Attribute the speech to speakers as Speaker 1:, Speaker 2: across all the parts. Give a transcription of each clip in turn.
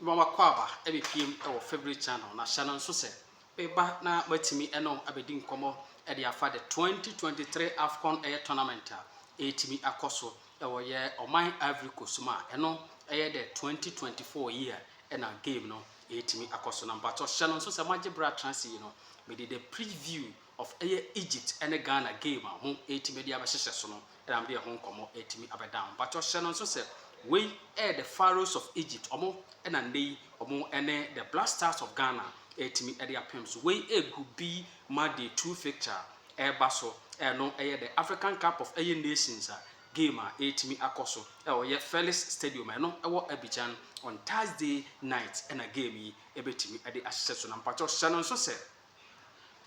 Speaker 1: ma wakɔ aba abɛpiem wɔ Favourite Channel na hyɛ no nso sɛ beba na moatumi ne no abɛdi nkɔmmɔ de afa the 2023 Afcon ɛyɛ tournament a ɛretumi akɔ so wɔ yɛ ɔman Ivory Coast mu a ɛno ɛyɛ the 2024 year ɛna game no ɛretumi akɔ so na mpakyɛw hyɛ no nso sɛ moagye berɛ atrase yi no mede the preview Of ɛyɛ Egypt ne Ghana game a ho retumi de abɛhyehyɛ so no na mede ɛho nkɔmmɔ retumi abɛda ho. Mpakyɛw hyɛ no nso sɛ wei yɛ the Pharaohs of Egypt, wɔn na nnɛ yi wɔn ne the Black Stars of Ghana retumi de apem so. Wei yɛ Group B ma day two fixture a ɛreba so, ɛno yɛ the African Cup of ɛyɛ Nations a game a ɛretumi akɔ so wɔ yɛ Felix Stadium a ɛno wɔ Abidjan on Thursday night na game yi bɛtumi de ahyehyɛ so. Na mpakyɛw hyɛ no nso sɛ.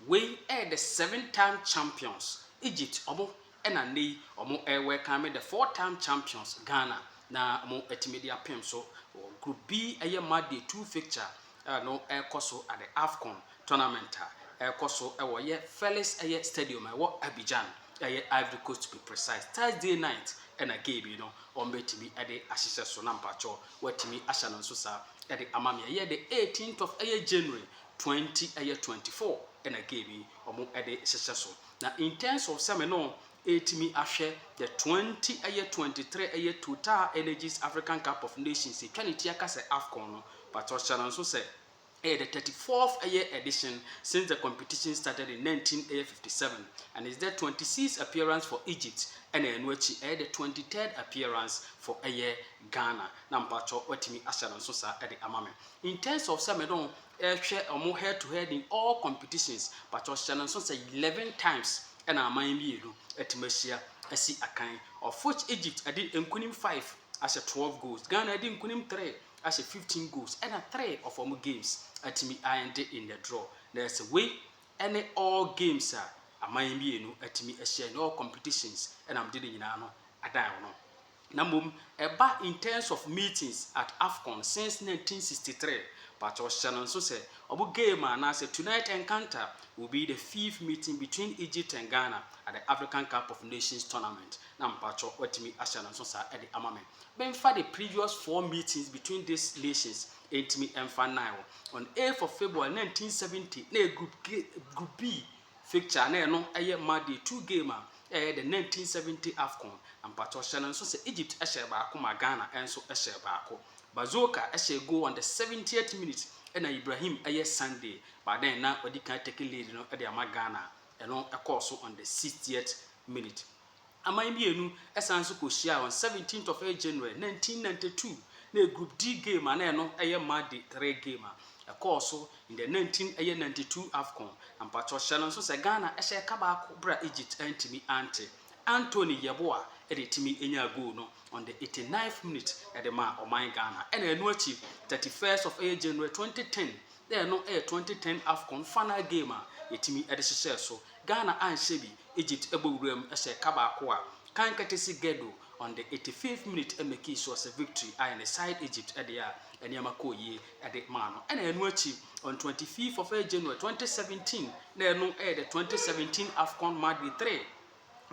Speaker 1: Wei ɛyɛ the seven time champions Egypt ɔmo ɛna nnɛ yi ɔmo ɛwɛlkame the four time champions Ghana na ɔmo atumi de apem so wɔ group B ɛyɛ match day two fixture a no ɛkɔ so at the Afcon tournament a ɛkɔ so ɛwɔ ɛyɛ Felix ɛyɛ stadium a ɛwɔ Abidjan ɛyɛ Ivory Coast to be precise Thursday night ɛna game yi no ɔmo bɛtumi ɛde ahyehyɛ so na mpakyɛw watumi ahyɛ no nso saa ɛde ama me ɛyɛ the eighteenth of ɛyɛ January Twenty ɛyɛ twenty four ɛna game yi ɔmo ɛde hyehyɛ so na in terms of sɛ me no ɛɛtumi ahwɛ the twenty ɛyɛ twenty three ɛyɛ Total Energies African Cup of Nations ɛtwa ne ti aka sɛ Afcon no but ɔhyɛ no nso sɛ ɛyɛ the thirty fourth ɛyɛ edition since the competition started in nineteen ɛyɛ fifty seven and is the twenty six appearance for Egypt ɛna ɛno akyi ɛyɛ the twenty third appearance for ɛyɛ Ghana na mpakyɛw watumi ahyɛ no nso saa ɛde ama me. In terms of sɛ me ne wɔn hwɛ wɔn head to head in all competitions, pakyɛw hyɛ no nso sɛ eleven times na aman mmienu atumi ahyia asi akan, of which Egypt adi nkunim five ahyɛ twelve goals, Ghana adi nkunim three ahyɛ fifteen goals, ɛna three of wɔn games atumi a ende in the draw. Na ɛsɛ wei ne all games a aman mmienu atumi ahyia in all competitions na wɔde ne nyinaa no adan wɔn ho. Na mmom ɛba in terms of meetings at Afcon since nineteen sixty three but ɔhyɛ no nso sɛ ɔbo game anaasɛ tonight encounter will be the fifth meeting between Egypt and Ghana at the African Cup of Nations tournament na mpakyɛw watumi ahyɛ no nso saa de ama me menfa the previous four meetings between this nations ɛntumi ɛmfa nnae wɔ on eighth of February nineteen seventy na ɛyɛ group group B Fixture a na ɛno yɛ ma day two game a ɛyɛ the nineteen seventy Afcon. Na mpakyɛw hyɛ no nso sɛ Egypt hyɛɛ baako ma Ghana nso hyɛɛ baako. Bazooka hyɛɛ goal on the seventieth minute ɛna Ibrahim yɛ Sunday but then na wadi kan take lead no de ama Ghana. Ɛno kɔɔ so on the sixtieth minute. Aman mmienu san nso kɔhyiaa on 17th of eight January 1992 na ɛyɛ group D game a na ɛno yɛ mma de three game a ɛkɔɔ so in the 19 ɛyɛ 92 Afcon na mpakyɛw hyɛ no nso sɛ Ghana hyɛ ɛka baako berɛ a Egypt antumi ante Anthony Yeboah de tumi nyaa goal no on the 89th minute de maa ɔman Ghana ɛna ɛno akyi 31st of ɛyɛ January 2010 na ɛno yɛ 2010 Afcon final game a yɛtumi de hyehyɛɛ so Ghana anhyɛ bi, Egypt bɔ wuram hyɛ ka baako a kan kɛtɛ si Guedo on the eighty fifth minute makii sure sɛ victory ayɛ ne side Egypt deɛ a nneɛma kɔɔ yie de maa no ɛna ɛno akyi on twenty fifth of January twenty seventeen na ɛno yɛ the twenty seventeen Afcon match day three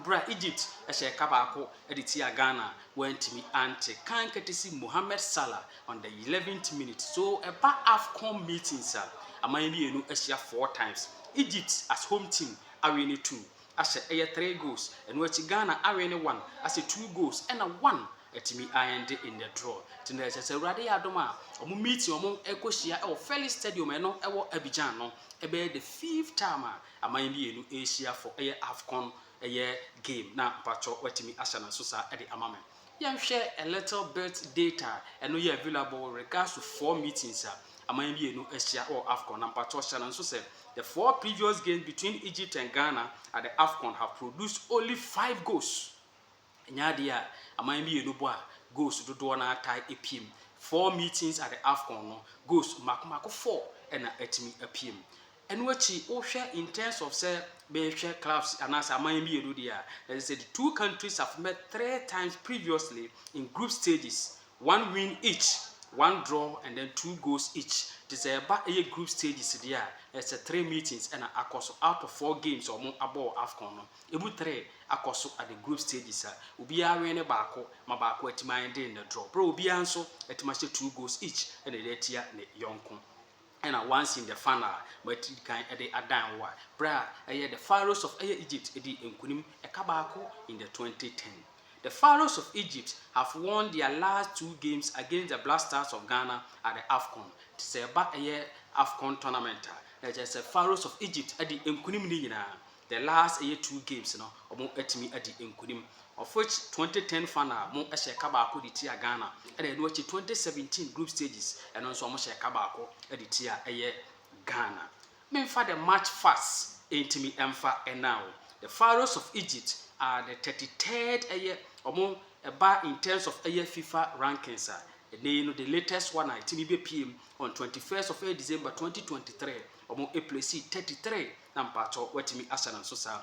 Speaker 1: berɛ a Egypt hyɛ ka baako de tiaa Ghana wɔantumi ante kan kɛtɛ si Mohamed Salah On the eleventh minute so ɛba Afcon meetings a aman mmienu ahyia four times. Egypt as home team awe no two ahyɛ ɛyɛ three goals, ɛno akyi Ghana awe no one ahyɛ two goals ɛna one atumi a end in the draw. Nti na ɛsɛ sɛ Awurade yɛ adom a wɔn meeting a wɔn ɛkɔ hyia ɛwɔ Felix Stadium ɛno ɛwɔ Abidjan no ɛbɛyɛ the fifth time a aman mmienu ɛrehyia for ɛyɛ Afcon ɛyɛ game na mpakyɛw watumi ahyɛ no nso saa ɛde ama me. Yɛnhwɛ a little bit data a ɛno yɛ available with regards to four meetings a aman mmienu ahyia wɔ Afcon na mpakyɛw hyɛ no nso sɛ the four previous games between Egypt and Ghana at the Afcon have produced only five goals. Ɛnyɛ adeɛ a aman mmienu bɔ a goals dodoɔ no ara tae piem. Four meetings at the Afcon no, goals mmaako mmaako four na atumi apiem. Ɛno akyi wohwɛ in terms of sɛ bɛhwɛ clubs anaasɛ aman mmienu deɛ a, ɛsɛ sɛ the two countries have met three times previously in group stages, one win each, one draw and then two goals each. Nti sɛ ɛba ɛyɛ group stages deɛ a, ɛsɛ sɛ three meetings ɛna akɔ so out of four games a wɔn abɔ wɔ Afcon no, ɛmu three akɔ so at the group stages a obiara win ne baako ma baako atumi ayɛ den ne draw, berɛ a obiara nso atumi ahyɛ two goals each ɛna ɛde atia ne yɔnko. Ɛna once in the fan a matiri di kan de adan wo a berɛ a ɛyɛ the Pharaohs of ɛyɛ Egypt di nkunim ɛka baako in the 2010 the Pharaohs of Egypt have won their last two games against the Black Stars of Ghana at the Afcon nti sɛ ɛba ɛyɛ Afcon tournament a na ɛkyerɛ sɛ Pharaohs of Egypt adi nkunim no nyinaa the last ɛyɛ two games no ɔmo atumi adi nkunim of which 2010 final ɔmo hyɛ ka baako de tia Ghana ɛna ɛno akyi 2017 group stages ɛno nso ɔmo hyɛ ka baako de tia ɛyɛ Ghana memfa the match fast ɛntumi ɛmfa ɛna o the Pharaohs of Egypt are the 33rd ɛyɛ ɔmo ɛba in terms of ɛyɛ FIFA rankings a ɛnɛ yi no the latest one a ɛtumi bɛpiem on 21st of ɛyɛ December 2023 Ɔmo ɛplesii thirty three na mpaatɔ watumi asa no nso saa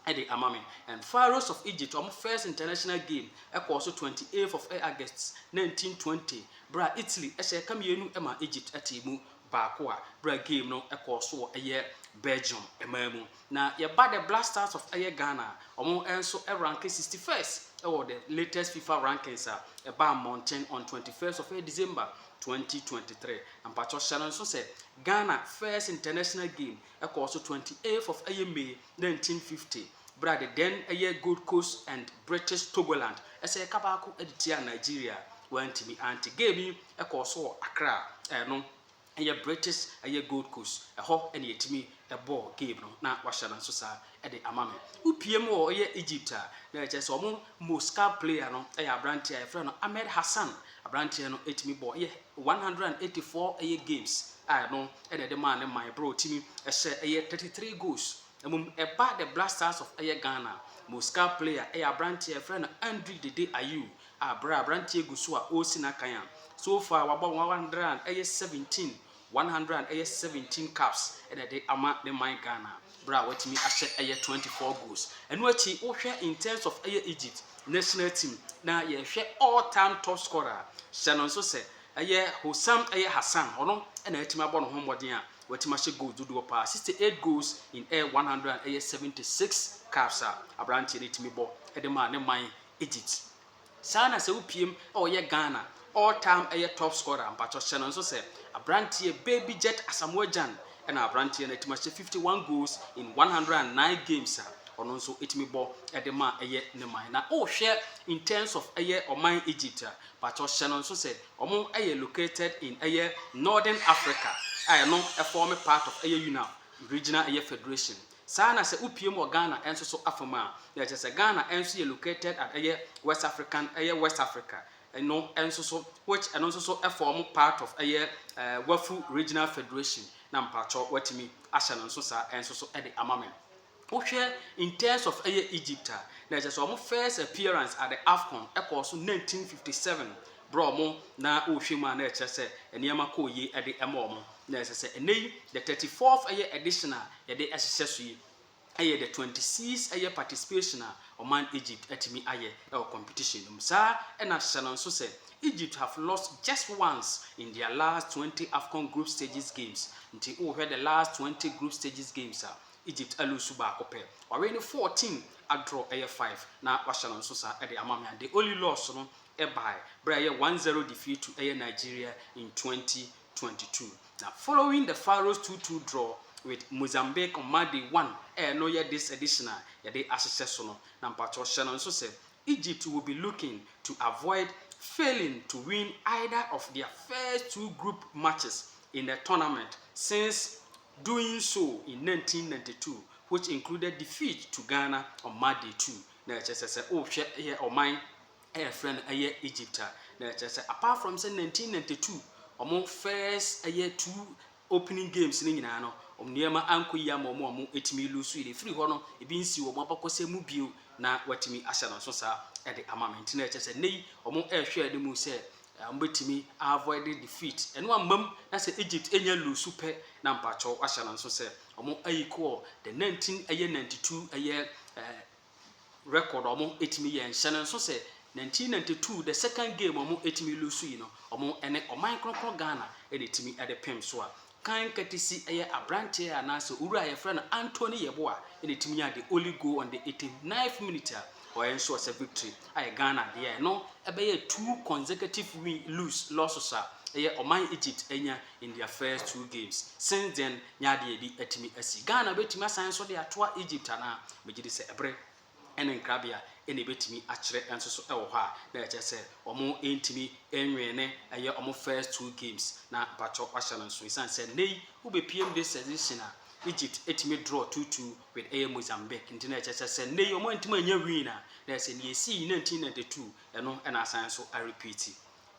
Speaker 1: ɛde ama me and Pharaohs of Egypt ɔmo first international game ɛkɔɔ so twenty eighth of August nineteen twenty berɛ a Italy ɛhyɛ ɛka mmienu maa Egypt ɛtee mu baako a berɛ a game no ɛkɔɔ so wɔ ɛyɛ Belgium ɛman mu Na yɛba the Black Stars of ɛyɛ Ghana a, wɔn nso ranke sixty first wɔ the latest fifa rankings a ɛbaa mmɔnten on twenty first of ɛyɛ December twenty twenty three. Na mpakyɛw hyɛ no nso sɛ Ghana first international game ɛkɔɔ so twenty eighth of ɛyɛ May nineteen fifty bere a the then ɛyɛ Gold Coast and British Togoland ɛsɛ ɛka baako de tiaa Nigeria a wɔantumi ante. Game yi ɛkɔɔ so wɔ Accra a ɛno Ɛyɛ British, ɛyɛ Gold Coast, ɛhɔ na yɛtumi bɔɔ game no na wahyɛ no nso saa de ama me. Wopue mu wɔ yɛ Egypt a, na ɛkyerɛ sɛ wɔn most scout player no yɛ aberanteɛ a yɛfrɛ no Ahmed Hassan. Aberanteɛ no tumi bɔɔ yɛ one hundred and eighty four ɛyɛ games a ɛno na ɛde maa ne man berɛ a ɔtumi hyɛ ɛyɛ thirty three goals. Mmom ɛba the Black Stars of ɛyɛ Ghana, most scout player yɛ aberanteɛ a yɛfrɛ no Andre Dede Ayew a bere a aberanteɛ gu so a ɔresi n'akan a, so far wabɔ one hundred and ɛyɛ seventeen one hundred and ɛyɛ seventeen caps na ɛde ama ne man Ghana bere a watumi ahyɛ ɛyɛ twenty four goals. Ɛno akyi wohwɛ in terms of ɛyɛ Egypt national team na yɛhwɛ all time top scorer a, hyɛ no nso sɛ ɛyɛ Hossam ɛyɛ Hassan, ɔno na atumi abɔ ne ho mmɔden a watumi ahyɛ goals dodoɔ paa, sixty eight goals in ɛyɛ one hundred and ɛyɛ seventy six caps a aberanteɛ no tumi bɔ de maa ne man. Egypt saa na sɛ wopiem a ɔyɛ Ghana all time ɛyɛ top scorer mpakyɛw hyɛ no nso sɛ abranteɛ Baby Jet Asamoah Gyan ɛna abranteɛ no atumi ahyɛ fifty one goals in one hundred and nine games a ɔno nso ɛtumi bɔ ɛde ma ɛyɛ ne man na wohwɛ in terms of ɛyɛ ɔman Egypt a mpakyɛw hyɛ no nso sɛ ɔmo ɛyɛ located in ɛyɛ Northern Africa a ɛno ɛform part of ɛyɛ UNAF regional ɛyɛ federation Saa na sɛ wopiem wɔ Ghana nso so afa mu a, na ɛkyerɛ sɛ Ghana nso yɛ located at ɛyɛ West African ɛyɛ West Africa no nso so which ɛno nso so form part of ɛyɛ Wafu Regional Federation na mpakyɛw woatumi ahyɛ no nso saa nso so de ama me. Wohwɛ in terms of ɛyɛ Egypt a, na ɛkyerɛ sɛ wɔn first appearance at the Afcon ɛkɔɔ so 1957 Bere wɔn na wɔrehwɛ mu a na ɛkyerɛ sɛ nneɛma kɔɔ yie de ma wɔn. Na ɛsɛ sɛ ɛnnɛ yi the thirty fourth ɛyɛ edition a yɛde hyehyɛ so yi ɛyɛ the twenty sixth ɛyɛ participation a ɔman Egypt atumi ayɛ wɔ competition no mu. Saa ara na hyɛ no nso sɛ Egypt have lost just once in their last twenty Afcon group stages games. Nti wohwɛ the last twenty group stages games a, Egypt aluusu baako pɛ. Wawene fourteen, adraw ɛyɛ five, na wahyɛ no nso saa de ama me. And the only loss no ɛbae bere a ɛyɛ one zero defeatu ɛyɛ Nigeria in twenty twenty two na following the Pharaohs two two draw with Mozambique on Mardi one a ɛno yɛ this edition a yɛde ahyehyɛ so no na mpakyɛw hyɛ no nso sɛ Egypt will be looking to avoid failing to win either of their first two group matches in the tournament since doing so in nineteen ninety two which included defeat to Ghana on Mardi two na ɛkyɛ sɛ sɛ wohwɛ yɛ ɔman a yɛfrɛ no ɛyɛ Egypt a, na ɛkyerɛ sɛ apart from sɛ 1992 wɔn first ɛyɛ two opening games no nyinaa no, wɔn nneɛma ankɔ yie ama wɔn a wɔtumi lose yɛ. Ɛfiri hɔ no, ebi nsi wɔn abakɔsɛm mu bio na wɔatumi ahyɛ no nso saa ɛde ama me. Nti na ɛkyɛ sɛ nnɛ yi wɔn ɛrehwɛ anim mu sɛ eh, wɔbɛtumi avoid defeat. Ɛno ammam na sɛ Egypt ɛnya lose pɛ na mpakyɛw ahyɛ no nso sɛ wɔn ayikɔ the 19 ɛyɛ 92 ɛyɛ eh, record a ɔmo ɛtumi yɛ nhyɛ no nso sɛ nineteen ninety two the second game a ɔmo ɛtumi lose yi no ɔmo ɛne ɔman kronkron Ghana ɛna ɛtumi ɛde pem so a kan katisi ɛyɛ abranteɛ a anaasɛ owura a yɛfrɛ no Anthony Yeboah ɛna ɛtumi nyaa the only goal on the eighty ninth minute a ɔyɛ nso ɔsɛ victory ayɛ Ghana deɛ ɛno ɛbɛyɛ two consecutive win lose losses a ɛyɛ ɔman Egypt ɛnya in their first two games since then ne adeɛ a ebi atumi asi. Ghana bɛtumi asan nso de atoa Egypt anaa? Megye di sɛ bere ne nkrabea na ɛbɛtumi akyerɛ nso so wɔ hɔ a, na ɛkyerɛ sɛ wɔntumi nnwene ɛyɛ wɔn first two games na mpakyɛw wɔahyɛ no nsow esiane sɛ nnɛ yi wobɛpiem this edition a Egypt atumi draw two two with ɛyɛ Mozambique nti na ɛkyerɛ sɛ sɛ nnɛ yi wɔantumi annya win a na ɛsɛ nea ɛsii nineteen ninety two ɛno na asan nso arepeati.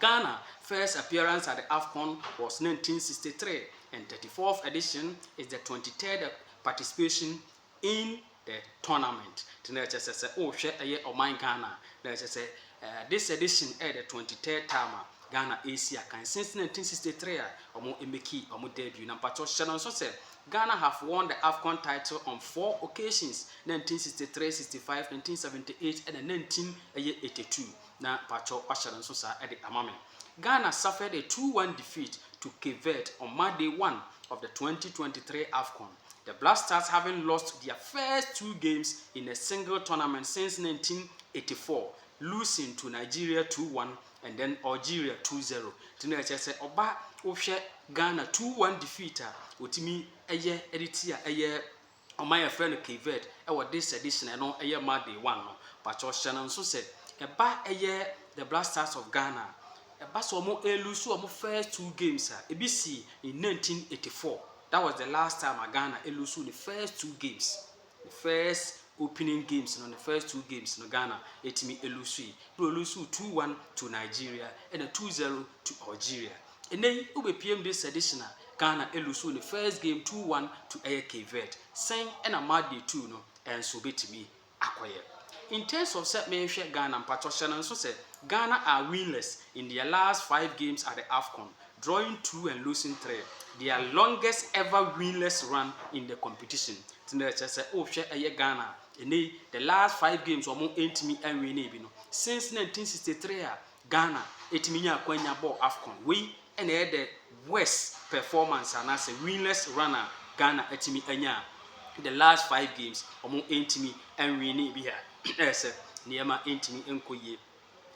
Speaker 1: Ghana first appearance at the Afcon was nineteen sixty three and thirty fourth edition is the twenty third participation in the tournament. Nti na ɛkyɛ sɛ sɛ wohwɛ ɛyɛ ɔman Ghana a, na ɛkyɛ sɛ eh, this edition ɛyɛ the twenty third time a Ghana ɛresi akan since nineteen sixty three a wɔn emeki wɔn debut. Na mpatsɔ hyɛ no nso sɛ Ghana have won the Afcon title on four occasions, nineteen sixty three, sixty five, nineteen seventy eight, ɛna nineteen ɛyɛ eighty two. Na pakyɛw wahyɛ no nso saa de ama me. Ghana suffered a two one defeat to Cape Verde on Monday one of the twenty twenty three Afcon, the Black Stars having lost their first two games in a single tournament since nineteen eighty four, losing to Nigeria two one and then Algeria two zero. Nti na ɛkyerɛ sɛ ɔba wohwɛ Ghana two one defeat a wɔtumi yɛ de tia ɛyɛ Ɔman a yɛfrɛ no Cape Verde wɔ this edition ɛno yɛ ma day one no. Pakyɛw hyɛ no nso sɛ ɛba ɛyɛ the Black Stars of Ghana a, ɛba sɛ wɔn ɛlusu wɔn first two games a, ebi sii in nineteen eighty four, that was the last time a Ghana ɛlusu ne first two games, ne first opening games no, ne first two games no Ghana ɛtumi ɛlusui. Ɛna ɔlusuu two one to Nigeria ɛna two zero to Algeria. Ɛnɛ yi wo bɛ pm this edition a Ghana ɛlusu ne first game two one to ɛyɛ Cape Verde. Sɛn ɛna match day two no ɛnso bɛtumi akɔyɛ? In terms of sɛ mehwɛ Ghana mpakyɛw hyɛ no nso sɛ Ghana are winless in their last five games at the Afcon, drawing two and losing three, their longest ever winless run in the competition. Nti na ɛkyerɛ sɛ wohwɛ ɛyɛ Ghana a ɛnɛ yi the last five games wɔn ɛntumi ɛnwinee bi no since nineteen sixty three a Ghana ɛtumi nya akwanya bɔɔ Afcon. Wei na ɛyɛ the worst performance anaasɛ winless run a Ghana atumi anya a the last five games ɔmo ɛntumi ɛnwinne bi a ɛyɛ sɛ nneɛma ɛntumi ɛnkɔ yie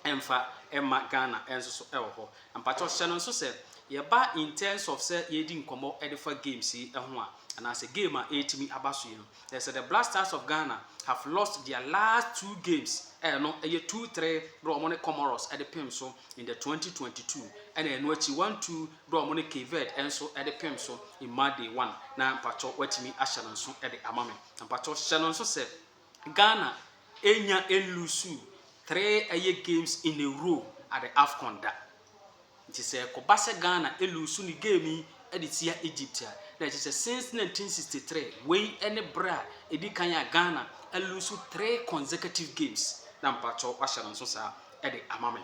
Speaker 1: ɛmfa ɛmma Ghana ɛnso so ɛwɔ hɔ. Mpakyɛw hyɛ no nso sɛ yɛba in terms of sɛ yɛredi nkɔmmɔ ɛde fa games yi ɛho a anaasɛ game a ɛretumi aba so yi no They say the Black Stars of Ghana have lost their last two games a ɛno yɛ two three berɛ wɔn ne Comoros de pem so in the twenty twenty two ɛna ɛno akyi one two berɛ wɔn ne Cape Verde nso de pem so in March day one na mpatsɔ watumi ahyɛ no nso de ama me na mpatsɔ hyɛ no nso sɛ Ghana enya elusu three ɛyɛ games in a row at the AFCON da. Nti sɛ ɛkɔba sɛ Ghana luusu ne game yi de tia Egypt a, na ɛkyerɛ sɛ since 1963, wei ne bere a ɛdi kan a Ghana aluusu three consecutive games. Na mpakyɛw wahyɛ no nso saa de ama me.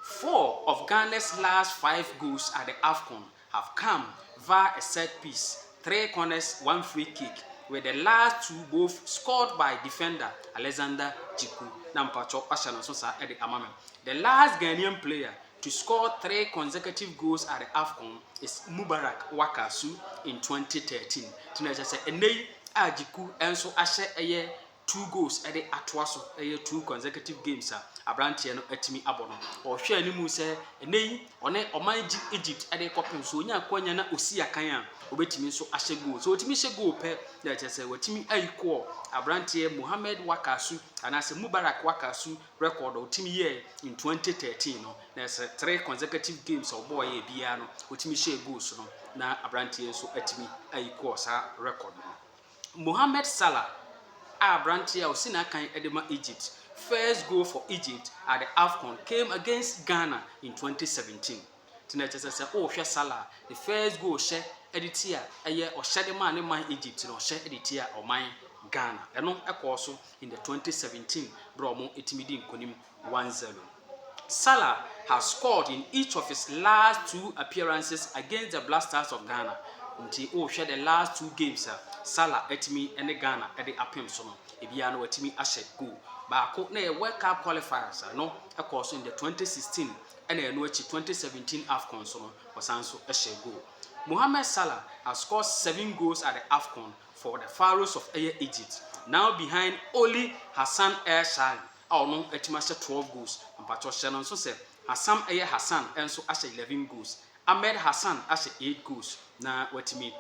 Speaker 1: Four of Ghana's last five goals at the Afcon have come via a set piece, three corners, one free kick with the last two both scored by defender Alexander Djiku na mpakyɛw wahyɛ no nso saa de ama me. The last Ghanaian player to score three consecutive goals at the Afcon is Mubarak Wakasu in twenty thirteen nti na kyerɛ sɛ ɛnnɛ yi a Djiku nso ahyɛ ɛyɛ two goals de atoa so, ɛyɛ two consecutive games a aberanteɛ no atumi abɔ no. Ɔhwɛ anim sɛ ɛnɛ yi ɔne ɔman Egypt de kɔpem so onya akwanya na osi akan a obetumi nso ahyɛ goal. So otumi hyɛ goal pɛ na ɛkyɛ sɛ watumi ayi kɔɔ aberanteɛ Mohamed Wakasu anaasɛ Mubarak Wakasu record a otumi yɛɛ in 2013 no na ɛsɛ three consecutive games a ɔbɔɔ yɛ biara no otumi hyɛɛ goals no na aberanteɛ nso atumi ayi kɔɔ saa record no. Mohamed Salah a aberanteɛ a ɔsi n'akan de ma Egypt first goal for Egypt at the Afcon came against Ghana in twenty seventeen nti na kyerɛ sɛ sɛ wohwɛ Salah ne first goal hyɛ de ti a ɛyɛ ɔhyɛ de maa ne man Egypt na ɔhyɛ de ti a ɔman Ghana ɛno ɛkɔɔ so in the twenty seventeen berɛ a wɔtumi di nkonim one zero. Salah has scored in each of his last two appearances against the Black Stars of Ghana nti wohwɛ the last two games a Salah atumi ne Ghana de apem so no, ebiara no watumi ahyɛ goal. Baako na ɛyɛ World Cup qualifiers a ɛno ɛkɔɔ so in the 2016 ɛna ɛno akyi 2017 AFCON so no ɔsan so hyɛ goal. Mohamed Salah has scored seven goals at the AFCON for the Pharaohs of ɛyɛ Egypt, now behind only Hassan El Shaari. a ɔno atumi ahyɛ twelve goals, mpakyɛw hyɛ no nso sɛ Hassam ɛyɛ Hassan nso ahyɛ eleven goals, Ahmed Hassan ahyɛ eight goals na watumi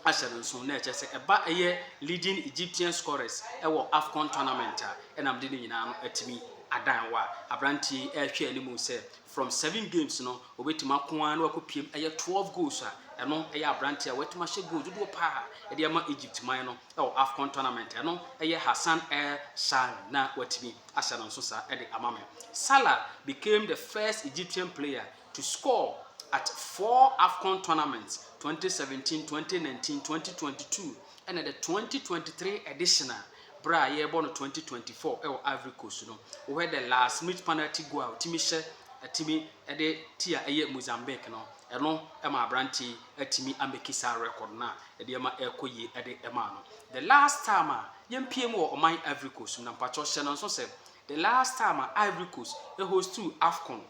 Speaker 1: ahyɛ no nso na ɛkyerɛ sɛ ɛba ɛyɛ leading Egyptian scorers ɛwɔ Afcon tournament a ɛnam de no nyinaa no atumi adan wa aberanteɛ yi ɛrehwɛ anim sɛ from seven games no obetumi ako ara na wakɔ piem ɛyɛ twelve goals a ɛno ɛyɛ aberanteɛ a watumi ahyɛ goals dodoɔ paa ɛde ama Egypt man no. wɔ Afcon tournament no yɛ Hassan El Shaari na watumi ahyɛ no nso saa de ama me. Salah became the first Egyptian player to score at four Afcon tournaments, 2017, 2019, 2022 ɛna the 2023 edition a berɛ a yɛrebɔ no 2024 wɔ Ivory Coast no. Wohwɛ the last minute penalty goal a ɔtumi hyɛ atumi de ti a ɛyɛ Mozambique no, ɛno ma aberanteɛ yi atumi amɛki saa record no a nneɛma ɛrekɔ yie ɛde ɛmaa no. The last time a yɛmpie mu wɔ ɔman Ivory Coast mu na mpakyɛw hyɛ no nso sɛ the last time a Ivory Coast ɛhostuu Afcon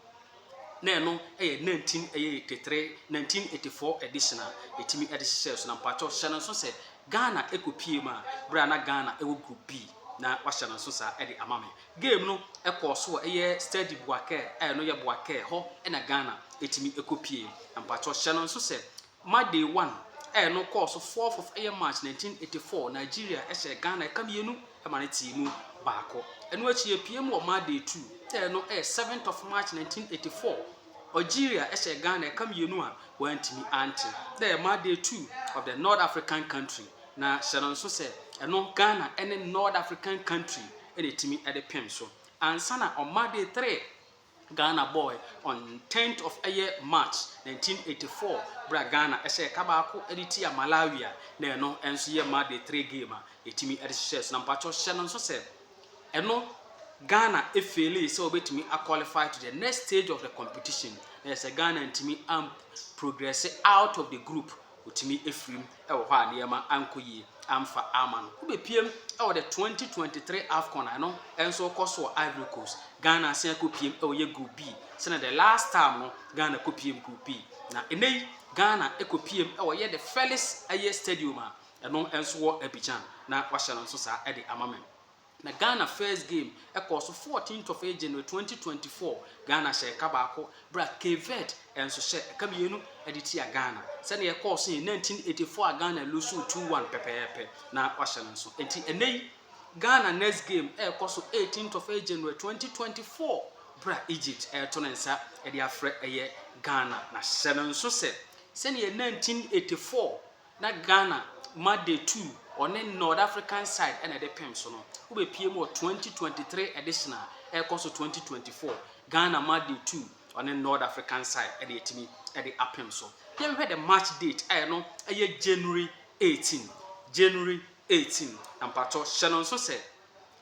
Speaker 1: na ɛno ɛyɛ 19 ɛyɛ 83 1984 edition a ɛtumi ɛde hyehyɛɛ so na mpakyɛw hyɛ no nso sɛ Ghana ɛkɔpie mu a berɛ a na Ghana ɛwɔ group B na wahyɛ no nso saa ɛde ama me. Game no kɔɔ so wɔ ɛyɛ Stade Boakere a ɛno yɛ Boakere hɔ na Ghana tumi kɔ pie. Mpakyɛw hyɛ no nso sɛ ma day one a ɛno kɔɔ so fourth of ɛyɛ March nineteen eighty four Nigeria hyɛɛ Ghana ɛka mmienu ma no tee mu baako. Ɛno akyi yɛpue mu wɔ ma day two a ɛno yɛ seventh of March nineteen eighty four Algeria hyɛɛ Ghana ɛka mmienu a wɔantumi ante. Na ɛyɛ ma day two of the North African country na hyɛ no nso sɛ ɛno Ghana ne North African country na ɛtumi de pem so. Ansa na ɔma day three Ghana bɔɔɛ on tenth of ɛyɛ March nineteen eighty four berɛ a Ghana hyɛɛ ka baako de tia Malawi a na ɛno nso yɛ ma day three game a yɛtumi de hyehyɛɛ so. Na mpakyɛw hyɛ no nso sɛ ɛno Ghana efeelee sɛ wɔbɛtumi a qualify to the next stage of the competition na yɛ sɛ Ghana ntumi am progress out of the group Otumi afirim wɔ hɔ a nneɛma ankɔ yie amfa amma no. Wobɛpiem wɔ the twenty twenty three Afcon a ɛno nso kɔ so wɔ Ivory Coast. Ghana asan akɔpiem wɔ yɛ Group B sɛdeɛ the last time no Ghana kɔpiem Group B. Na ɛnnɛ yi Ghana kɔpiem wɔ yɛ the Felix Ayie Stadium a ɛno nso wɔ Abidjan na wɔahyɛ no nso saa de ama me. Na Ghana first game ɛkɔɔ so fourteenth of January twenty twenty four, Ghana hyɛ ɛka baako berɛ a Cape Verde nso hyɛ ɛka mmienu de tia Ghana. Sɛdeɛ ɛkɔɔ so yɛ nineteen eighty four a Ghana loosuu two one pɛpɛɛpɛ na wɔahyɛ no nso. Enti ɛnnɛ yi Ghana next game ɛrekɔ so eighteenth of January twenty twenty four berɛ a Egypt ɛreto ne nsa de afrɛ ɛyɛ Ghana. Na hyɛ no nso sɛ sɛdeɛ nineteen eighty four Na Ghana ma day two ɔne Nord African side ɛna ɛde pem so no wobɛpie mu wɔ twenty twenty three edition a ɛrekɔ so twenty twenty four. Ghana ma day two ɔne Nord African side ɛna ɛtumi ɛde apem so. Yɛn hwɛ the match date a ɛno ɛyɛ January eighteen January eighteen na mpakyɛw hyɛ no nso sɛ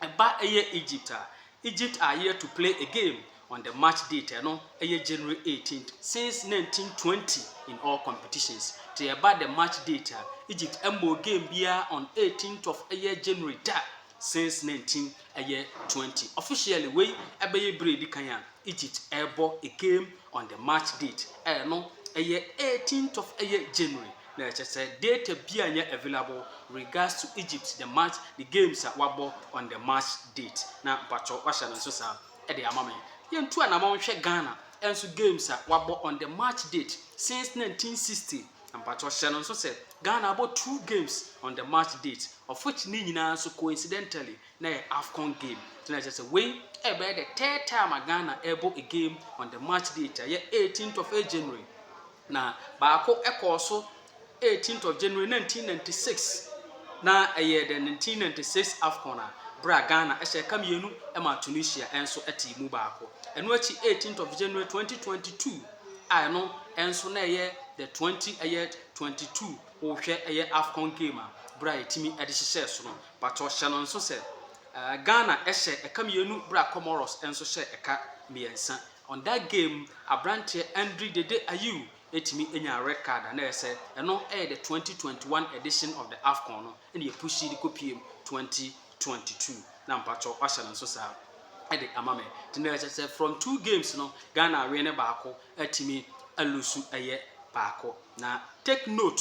Speaker 1: ɛba ɛyɛ Egypt a, Egypt are yet to play a game on the match date ɛno ɛyɛ January eighteenth since nineteen twenty in all competitions. Te ɛba the match date a, Egypt ɛmmɔɔ game biara on eighteenth of ɛyɛ January da since nineteen ɛyɛ twenty. Officially wei ɛbɛyɛ bere a edi kan a Egypt ɛrebɔ a game on the match date ɛno ɛyɛ eighteenth of ɛyɛ January. na ɛkyɛ sɛ data bia nyɛ available regards to Egypt the match the games a wabɔ on the match date na mpakyɛw wahyɛ no nso saa ɛde ama me yɛntu anamɔ nhwɛ Ghana ɛnso games a wabɔ on the match date since 1960 mpakyɛw hyɛ no nso sɛ Ghana abɔ two games on the match date of which ne nyinaa nso coincidentally na yɛ AFCON game na ɛkyɛ sɛ wei ɛbɛyɛ the third time a Ghana ɛbɔ a game on the match date a yɛ 18th of January Na baako kɔɔ so 18th of January 1996 na ɛyɛ the 1996 Afcon a berɛ a Ghana hyɛ ka mmienu maa Tunisia nso tee mu baako. Ɛno akyi 18th of January 2022 a ɛno nso na ɛyɛ the 20 ɛyɛ 22 wohwɛ ɛyɛ Afcon game a berɛ a ɛtumi de hyehyɛɛ so no patɔ hyɛ no nso sɛ Ghana hyɛ ɛka mmienu berɛ a Comoros nso hyɛ ɛka mmiɛnsa. On that game, aberanteɛ Andri Dede Ayew tumi nyaa red card a na ɛyɛ sɛ ɛno yɛ the twenty twenty one edition of the Afcon no na yɛ pushii de kɔ piem twenty twenty two na mpakyɛw wahyɛ no nso saa de ama me nti na ɛkyɛ sɛ from two games no Ghana awene baako atumi alusu ɛyɛ baako na take note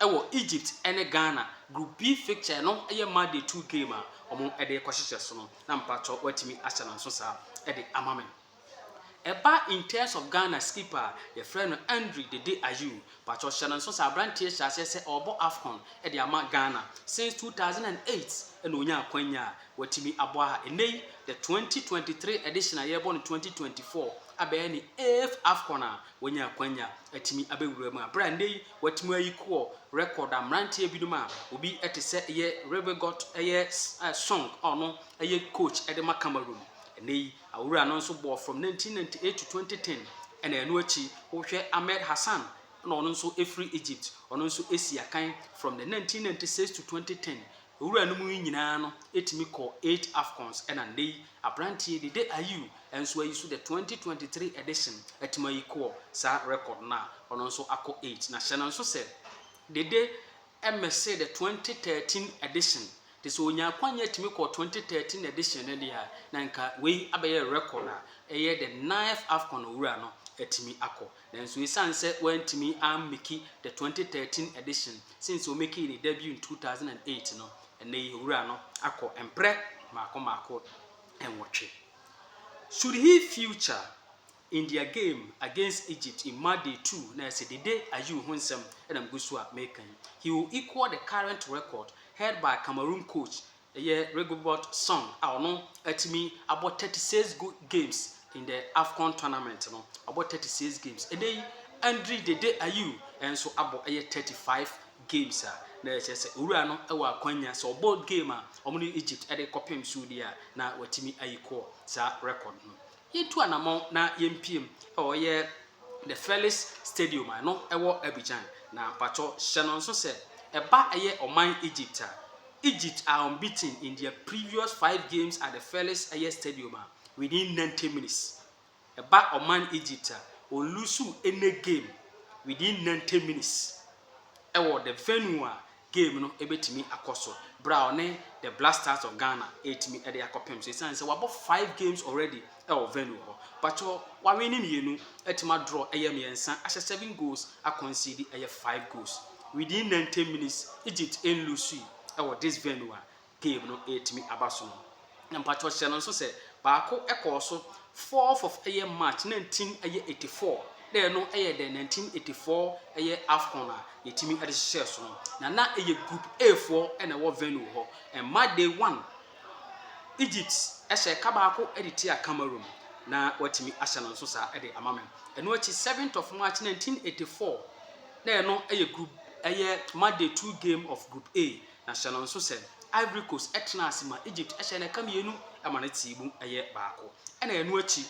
Speaker 1: Ɛwɔ Egypt ne Ghana group B fixture no yɛ Monday two game a wɔde rekɔhyehyɛ so no na mpakyɛw watumi ahyɛ no nso saa de ama me. Ɛba in terms of Ghana skipper a yɛfrɛ no Andre Dede Ayew, mpakyɛw hyɛ no nso saa aberanteɛ hyɛ aseɛ sɛ ɔrebɔ Afcon de ama Ghana since two thousand and eight na ɔnya akwanya a watumi abɔ a ɛnnɛ yi the twenty twenty three edition a yɛrebɔ no twenty twenty four abɛyɛ ne eighth Afcon a Wanya akwanya atumi abɛwura mu a, berɛ a nnɛ yi watumi ayi kɔɔ record a mmeranteɛ binom a obi te sɛ yɛ Rivegot yɛ Song a ɔno yɛ coach de ma Cameroon. Nnɛ yi awura no nso bɔɔ from 1998 to 2010 ɛna ɛno akyi wohwɛ Ahmed Hassan na ɔno nso firi Egypt ɔno nso si akan from the 1996 to 2010 Wuranom yi nyinaa no tumi kɔɔ eight Afcons ɛna nnɛ yi abranteɛ yi Dede Ayew nso ayi so the twenty twenty three edition atumi ayi kɔɔ saa record no a ɔno nso akɔ eight na hyɛ no nso sɛ Dede mmɛsee the twenty thirteen edition te sɛ ɔnyaa akwanya atumi kɔɔ twenty thirteen edition no deɛ a na nka wei abɛyɛ record a ɛyɛ the ninth Afcon a Owura no atumi akɔ Nanso esiane sɛ wɔantumi ammeki the twenty thirteen edition since wɔmekii ne debut in two thousand and eight no, ɛnnɛyi Owura no akɔ mprɛ mmaako mmaako nnwɔtwe. Should he future in their game against Egypt in match day two na ɛsɛ Dede Ayew ho nsɛm na megu so a meka yi, he will equal the current record held by Cameroon coach Ɛyɛ Rigobert Song a ɔno atumi abɔ thirty six go games in the Afcon tournament no. Wabɔ thirty six games. Ɛnɛ yi, Andre Dede Ayew nso abɔ ɛyɛ thirty five games a na ɛkyerɛ sɛ owura no wɔ akwanya sɛ ɔbɔ game a wɔne Egypt de rekɔpem so deɛ a na watumi ayi kɔɔ saa record no. Yɛntu anamɔn na yɛmpiem wɔ yɛ The Felix Stadium a ɛno ɛwɔ Abidjan. Na mpakyɛw hyɛ no nso sɛ ɛba ɛyɛ ɔman Egypt a, Egypt are unbeaten in their previous five games at the Felix ɛyɛ Stadium a within ninety minutes. Ɛba ɔman Egypt a, wɔnlusuw any game within ninety minutes ɛwɔ the venue a game no bɛtumi akɔ so berɛ a ɔne the Black Stars of Ghana ɛretumi de akɔpem so ɛsiane sɛ wabɔ five games already ɛwɔ venue hɔ but wawe ne mmienu atumi adraw ɛyɛ mmiɛnsa ahyɛ seven goals akɔnsidi ɛyɛ five goals within 90 minutes Egypt ɛnlusui ɛwɔ this venue a game no retumi aba so no. Na mpakyɛw hyɛ no nso sɛ baako kɔɔ so fourth of ɛyɛ March nineteen ɛyɛ eighty four na ɛno yɛ dɛ nineteen eighty four ɛyɛ Afcon a yɛtumi de hyehyɛɛ so no. Na na ɛyɛ group A foɔ na ɛwɔ venue hɔ. Ɛma day one Egypt hyɛ ɛka baako de tia Cameroon na watumi ahyɛ no nso saa de ama me. Ɛno akyi seventh of March nineteen eighty four na ɛno yɛ group ɛyɛ ma day two game of group A Na hyɛ no nso sɛ, Ivory Coast tenaa ase ma Egypt hyɛɛ no ɛka mmienu ma no tee mu yɛ baako. Ɛna ɛno akyi,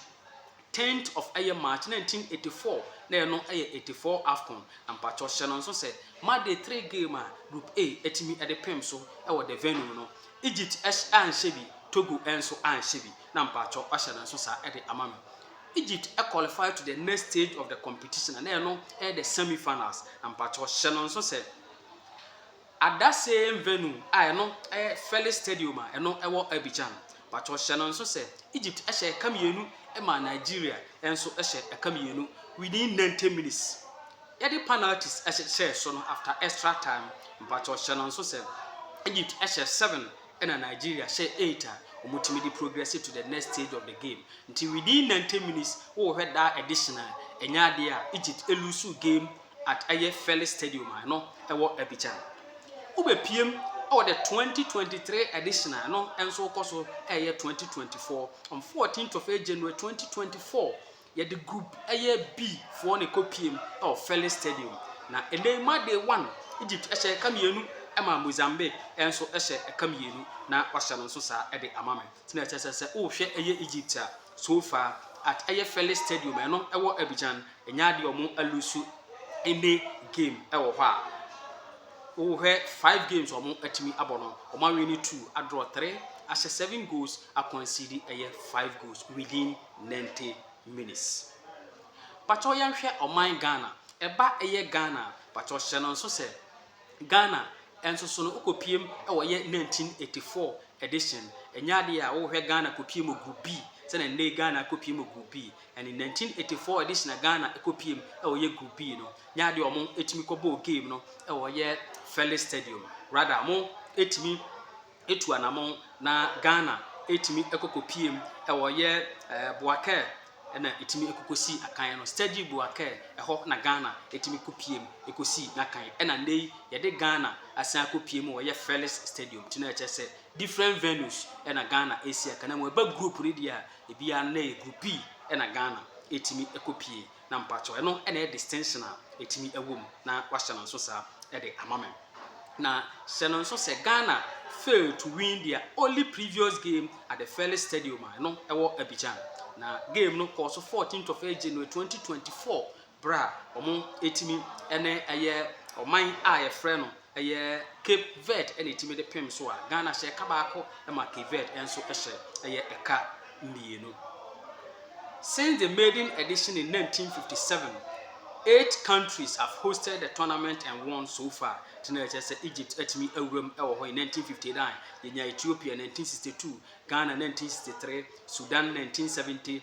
Speaker 1: tenth of ɛyɛ March nineteen eighty four, na ɛno yɛ eighty four Afcon. Na mpakyɛw hyɛ no nso sɛ, ma de three game a Group A atumi de pem so wɔ the venue no, Egypt anhyɛ bi, Togo nso anhyɛ bi. Na mpakyɛw hyɛ no nso saa de ama me. Egypt qualify to the next stage of the competition, na ɛno yɛ the semi finals. Na mpakyɛw hyɛ no nso sɛ, At that same venue a ɛno yɛ Felix Stadium a ɛno wɔ Abidjan. Pacho hyɛ no nso sɛ Egypt hyɛ ɛka mmienu maa Nigeria nso hyɛ ɛka mmienu within ninety minutes. Yɛde panalties hyɛɛ so no after extra time. Mpacho hyɛ no nso sɛ Egypt hyɛ seven ɛna Nigeria hyɛ eight a wɔtumi de progress to the next stage of the game. Nti within ninety minutes wohwɛ daa additional ɛnyɛ adeɛ a Egypt loose game at ɛyɛ Felix Stadium a ɛno ɛwɔ Abidjan. Wobɛpiem wɔ the twenty twenty three edition a ɛno nso wokɔ so ɛyɛ twenty twenty four on fourteenth of eight January twenty twenty four yɛde group ɛyɛ B foɔ na ɛkɔ piem wɔ Felix Stadium na ɛnɛ yi ma day one Egypt ɛhyɛ ɛka mmienu ɛma Mozambique ɛnso ɛhyɛ ɛka mmienu na wahyɛ no nso saa ɛde ama me tena ɛkyɛ sɛ sɛ wohwɛ ɛyɛ Egypt a So far at ɛyɛ fɛlɛ stadium ɛno ɛwɔ abidjan ɛnyɛ adeɛ ɔmo alusu any game ɛwɔ hɔ a wo hwɛ five games ɔmo atumi abɔ no ɔmo awini two adraw three ahyɛ seven goals akɔnsidi ɛyɛ five goals within ninety minutes pakyɛw yɛnhwɛ ɔman ghana ɛba ɛyɛ ghana pakyɛw hyɛ no nso sɛ Ghana nso so no, wokɔpiem na wɔyɛ 1984 edition. Ɛnyɛ adeɛ a wohwɛ Ghana kɔpie mu Group B sɛdeɛ nnɛ yi Ghana kɔpie mu Group B. Ɛne 1984 edition a Ghana kɔpiem na wɔyɛ Group B no, nyɛ adeɛ a wɔtumi kɔbɔɔ game no wɔ yɛ Felix Stadium. Rather, wɔtumi. atu anamɔn na Ghana ɛtumi ɛkɔkɔpie mu ɛwɔ yɛ Boakɛɛ ɛna ɛtumi ɛkɔkɔsii akan no, Stedgy Boakɛɛ, ɛhɔ na Ghana ɛtumi kɔpie mu ɛkɔsii n'akan ɛna nnɛ yi yɛde Ghana asan akɔpie mu wɔ yɛ Felix Stadium nti na ɛkyerɛ sɛ different venues ɛna Ghana ɛsi akan na mmom ɛba group no deɛ a ɛbiara no na ɛyɛ groupii ɛna Ghana ɛtumi ɛkɔpie Na mpakyɛw ɛno na ɛyɛ distinction a ɛtumi ɛwɔ mu na wahyɛ no nso saa ɛde ama me. Na hyɛ no nso sɛ Ghana failed to win their only previous game at the Felix Stadium a ɛno ɛwɔ Abidjan. Na game no kɔɔ so fourteenth of Jan twenty twenty four berɛ a wɔn ɛtumi ɛne ɛyɛ ɔman a yɛfrɛ no Ɛyɛ Cape Verde na ɛtumi de pem so a, Ghana hyɛ ɛka baako ma Cape Verde nso hyɛ ɛyɛ ɛka mmienu. Since the maiden edition in 1957, eight countries have hosted the tournament and won so far. Nti na ɛkyerɛ sɛ Egypt atumi awuram wɔ hɔ in 1959, yɛnya Ethiopia 1962, Ghana 1963, Sudan 1970,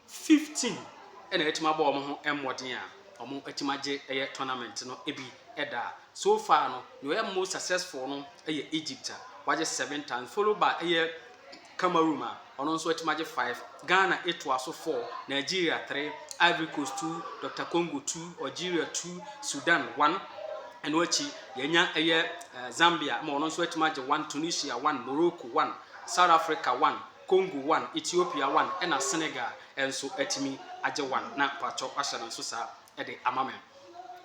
Speaker 1: 15 na atumi abɔ wɔn ho mmɔden a wɔatumi agye ɛyɛ tournament no bi da a, so far no, nea ɔyɛ most successful no yɛ Egypt a wagye seven times, followed by ɛyɛ Cameroon a ɔno nso atumi agye five, Ghana etoa so four, Nigeria three, Ivory Coast two, Dr Congo two, Algeria two, Sudan one, ɛno akyi yɛanya ɛyɛ Zambia ma ɔno nso atumi agye one, Tunisia one, Morocco one, South Africa one. Congo one, Ethiopia one ɛna Senegal nso atumi agye one na pakyɛw wahyɛ no nso saa de ama me.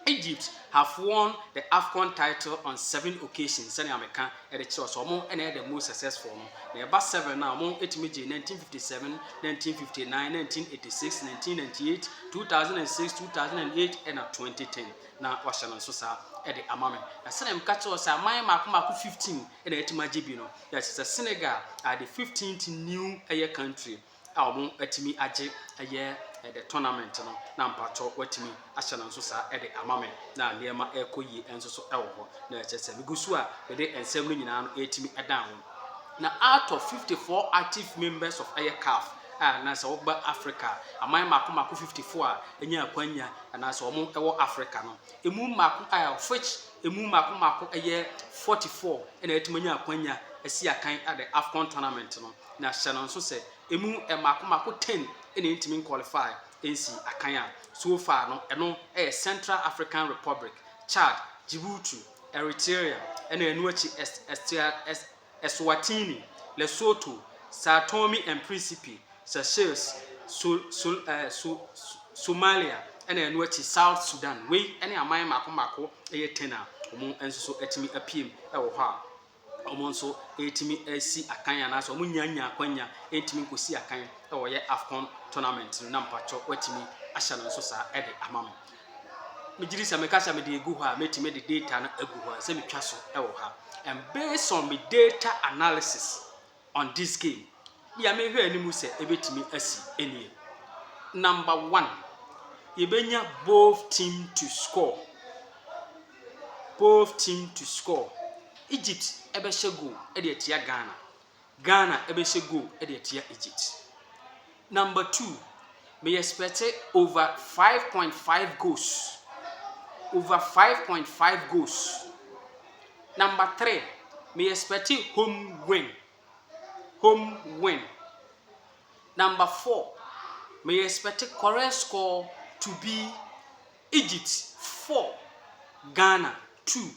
Speaker 1: Egypt have won the Afcon title on seven occasions sɛnea meka de kyerɛ wo sɛ wɔn na ɛyɛ the most successful no na ɛba seven no a wɔn atumi gye nineteen fifty seven, nineteen fifty nine, nineteen eighty six, nineteen ninety eight, two thousand and six, two thousand and eight ɛna twenty ten na wahyɛ no nso saa de ama me. Na sɛnea meka kyerɛ wo sɛ aman mmaako mmaako fifteen na atumi agye bi no. Na kyerɛ sɛ Senegal are the fifteenth new ɛyɛ country a wɔn atumi agye ɛyɛ the tournament no na mpatsɔ watumi ahyɛ no nso saa ɛde ama me na nneɛma ɛrekɔ yie ɛnso so ɛwɔ hɔ na kyerɛ sɛ megu so a mede nsɛm no nyinaa no ɛretumi ɛdan ho na out of fifty four active members of ɛyɛ CAF a na sɛ wɔba Africa aman mako mako fifty four a ɛnya akwanya anaasɛ wɔn ɛwɔ Africa no emu mako a of which Emu mako mako ɛyɛ forty four na atumi anya akwanya asi akan the Afcon tournament no, na hyɛ no nso sɛ emu mako mako ten na entumi nkwɔlifai nsi akan a, so far no ɛno ɛyɛ Central African Republic, Chad, Djibouti, Eritrea, ɛna ɛno akyi Est, Est, Est, Eswatini, Lesotho, São Tome and Príncipe, Seychelles, Su, Su, eh, Su, Su, Somalia, ɛna ɛno akyi South Sudan. Wei ne aman mmaako mmaako ɛyɛ 10 a wɔn nso so atumi apue mu ɛwɔ hɔ a wɔn nso ɛretumi asi akan anaasɛ wɔn nya nya akwanya ɛntumi nkɔsi akan ɛwɔ yɛ AFCON tournament no na mpakyɛ wɔatumi ahyɛ no nso saa ɛde ama me. megye di sɛ meka sɛ mede egu hɔ a, mɛtumi de data no agu hɔ sɛ metwa so wɔ ha. And based on me data analysis on this game, deɛ mehwɛ anim sɛ ɛbɛtumi asi ɛnie. Number one, yɛbɛnya both team to score. Both team to score. Egypt ɛbɛhyɛ goal ɛde atia Ghana. Ghana bɛhyɛ goal de atia Egypt. Number two, me expect over five point five goals. Over five point five goals. Number three, me expect home win. Home win. Number four, me expect correct score to be Egypt four, Ghana two.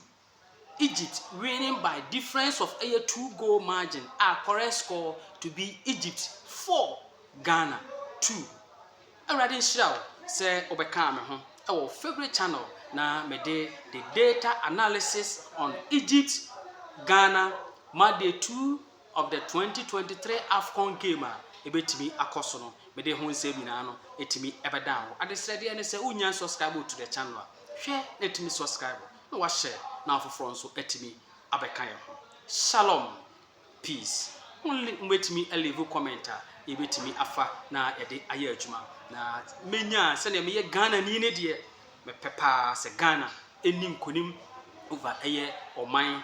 Speaker 1: Egypt winning by difference of ɛyɛ two goal margin a correct score to be Egypt four Ghana two Awurade nhyira wo sɛ wobɛkaa me ho wɔ wo favourite channel na mede the data analysis on Egypt Ghana ma day two of the twenty twenty three Afcon game a ɛbɛtumi akɔ so no mede ho nsɛm nyinaa no ɛtumi ɛbɛdaa wo. Adesrɛdeɛ ne sɛ wonnya nsubscribe to the channel a hwɛ na ɛtumi subscribe. na wahyɛ na afoforɔ nso atumi abɛka yɛn ho shalom peace only mobɛtumi alivu comment a yɛbɛtumi afa na yɛde ayɛ adwuma na mɛnya sɛdeɛ meyɛ Ghana ni ne deɛ mepɛ paa sɛ Ghana ɛni nkonim over ɛyɛ ɔman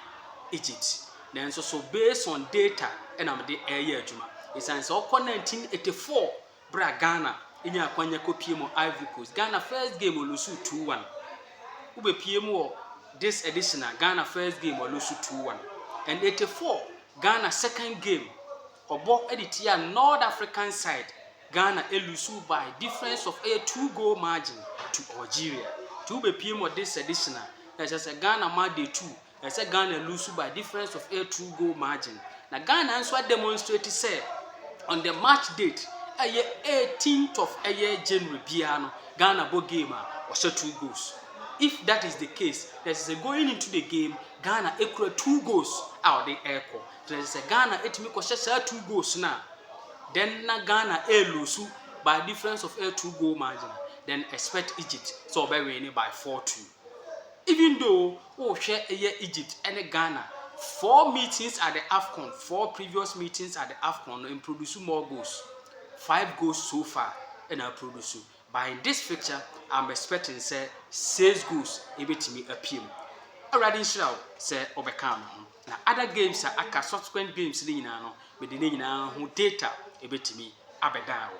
Speaker 1: Egypt nanso so based on data ɛna mede ɛyɛ adwuma ɛsiane sɛ ɔkɔ 1984 Berɛ a Ghana nyaa akwanya kɔpie mu Ivory Coast, Ghana first game ɔlusu two one. Wobɛpie mu wɔ this edition a, Ghana first game ɔlusu two one. And eighty four, Ghana second game ɔbɔ de tia North African side, Ghana ɛlusu by difference of ɛyɛ two goal margin to Algeria. Nti wobɛpie mu wɔ this edition a, na ɛkyerɛ sɛ Ghana ma day two Ɛyɛ sɛ Ghana lusu by difference of a true goal margin na Ghana nso ademonstrate sɛ on the match date ɛyɛ 18th of ɛyɛ January biara no Ghana bɔ game a wɔhyɛ two goals. If that is the case, na ɛsɛ sɛ going into the game Ghana ekura two goals a ɔde ɛrekɔ. Na ɛsɛ sɛ Ghana etumi kɔhyɛ saa two goals no a then na Ghana ɛrelusu by difference of a two goal margin then expect Egypt sɛ ɔbɛwin ne by four two. Even though wo hwɛ yɛ Egypt ɛne Ghana four meetings at the Afcon four previous meetings at the Afcon no mproduce more goals five goals so far ɛna aproduce but in this fixture I'm expecting sɛ six goals ɛbɛtumi apue mu awurade nhyira wo sɛ ɔbɛka me ho na other games a aka subsequent games no nyinaa no mede ne nyinaa ho data ɛbɛtumi abɛdan wo.